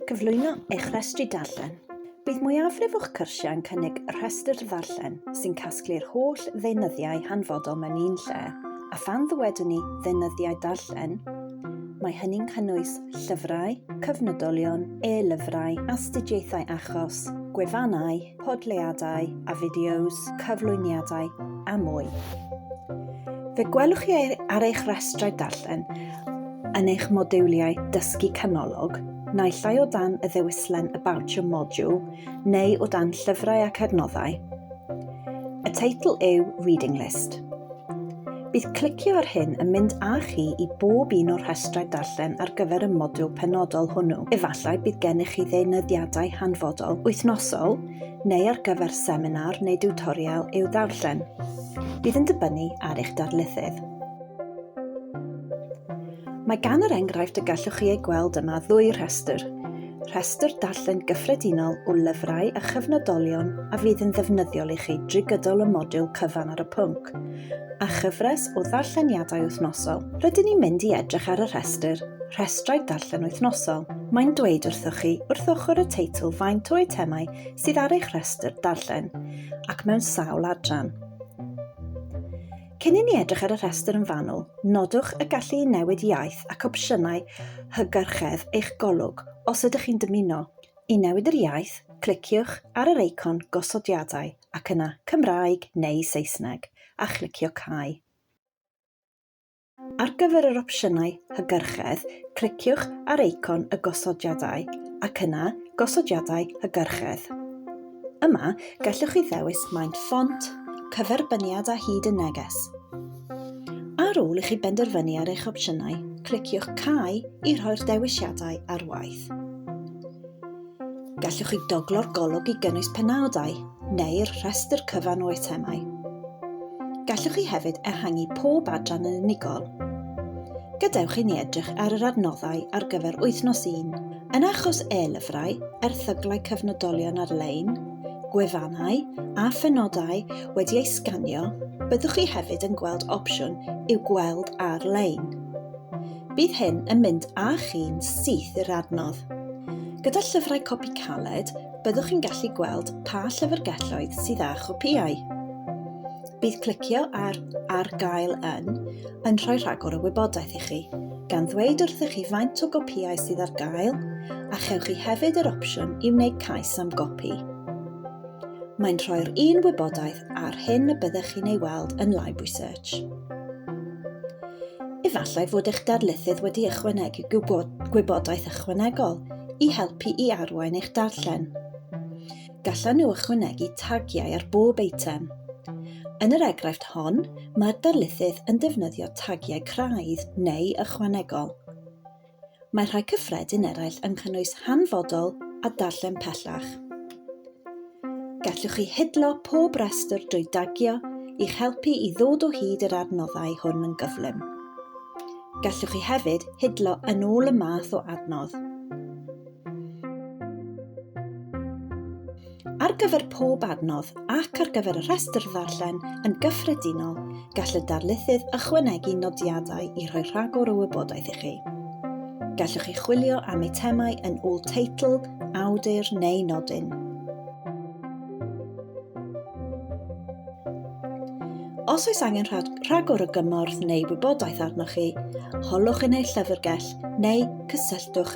Cyflwyno eich rhestri darllen. Bydd mwyafrif o'ch cyrsiau yn cynnig rhestr ddarllen sy'n casglu'r holl ddeunyddiau hanfodol mewn un lle, a phan ddywedwn ni ddeunyddiau darllen, mae hynny'n cynnwys llyfrau, cyfnodolion, e-lyfrau, astudiaethau achos, gwefannau, podleadau a fideos, cyflwyniadau a mwy. Fe gwelwch chi ar eich rhestrau darllen yn eich modiwliau dysgu canolog, naill ai o dan y ddewislen About Your Module neu o dan Llyfrau ac Adnoddau. Y teitl yw Reading List. Bydd clicio ar hyn yn mynd â chi i bob un o'r rhestrau darllen ar gyfer y modiwl penodol hwnnw. Efallai bydd gennych chi ddeunyddiadau hanfodol, wythnosol, neu ar gyfer seminar neu diwtorial i'w ddarllen. Bydd yn dibynnu ar eich darlithydd. Mae gan yr enghraifft y gallwch chi ei gweld yma ddwy rhestr. Rhestr darllen gyffredinol o lyfrau a chyfnodolion a fydd yn ddefnyddiol i chi drwy gydol y modiwl cyfan ar y pwnc, a chyfres o ddarlleniadau wythnosol. Rydyn ni'n mynd i edrych ar y rhestr Rhestrau Darllen Wythnosol. Mae'n dweud wrthoch chi wrth ochr y teitl faint o eitemau sydd ar eich rhestr darllen, ac mewn sawl adran. Cyn i ni edrych ar y rhestr yn fanwl, nodwch y gallu i newid iaith ac opsiynau hygyrchedd eich golwg os ydych chi'n dymuno. I newid yr iaith, cliciwch ar yr eicon gosodiadau ac yna Cymraeg neu Saesneg, a chlicio Cau. Ar gyfer yr opsiynau hygyrchedd, cliciwch ar eicon y gosodiadau ac yna Gosodiadau Hygyrchedd. Yma, gallwch chi ddewis maint ffont, cyferbyniad a hyd y neges. Ar ôl i chi benderfynu ar eich opsiynau, cliciwch Cau i rhoi'r dewisiadau ar waith. Gallwch chi goglo'r golwg i gynnwys penawdau neu'r rhestr cyfan o eitemau. Gallwch chi hefyd ehangu pob adran yn unigol. Gadewch i ni edrych ar yr adnoddau ar gyfer wythnos 1. Yn achos e-lyfrau, erthyglau cyfnodolion ar-lein, gwefannau a phenodau wedi eu sganio, byddwch chi hefyd yn gweld opsiwn i'w gweld ar-lein. Bydd hyn yn mynd â chi'n syth i'r adnodd. Gyda llyfrau copi caled, byddwch chi'n gallu gweld pa llyfrgelloedd sydd â chopïau. Bydd clicio ar Ar gael yn yn rhoi rhagor o wybodaeth i chi. gan ddweud wrthych chi faint o gopïau sydd ar gael, a chewch chi hefyd yr opsiwn i wneud cais am gopi. Mae'n rhoi'r un wybodaeth ar hyn y byddech chi'n ei weld yn Library Search. Efallai fod eich darlithydd wedi ychwanegu gwybodaeth ychwanegol i helpu i arwain eich darllen. gallan nhw ychwanegu tagiau ar bob eitem. Yn yr egraifft hon, mae'r darlithydd yn defnyddio tagiau craidd neu ychwanegol. Mae rhai cyffredin eraill yn cynnwys hanfodol a darllen pellach. Gallwch chi hidlo pob rhestr drwy dagio i'ch helpu i ddod o hyd yr adnoddau hwn yn gyflym. Gallwch chi hefyd hidlo yn ôl y math o adnodd. Ar gyfer pob adnodd ac ar gyfer y rhestr ddarllen yn gyffredinol, gall y darlithydd ychwanegu nodiadau i rhoi rhagor o wybodaeth i chi. Gallwch chi chwilio am eitemau yn ôl teitl, awdur neu nodyn. Os oes angen rhagor o gymorth neu wybodaeth arnoch chi, holwch yn eich llyfrgell neu cysylltwch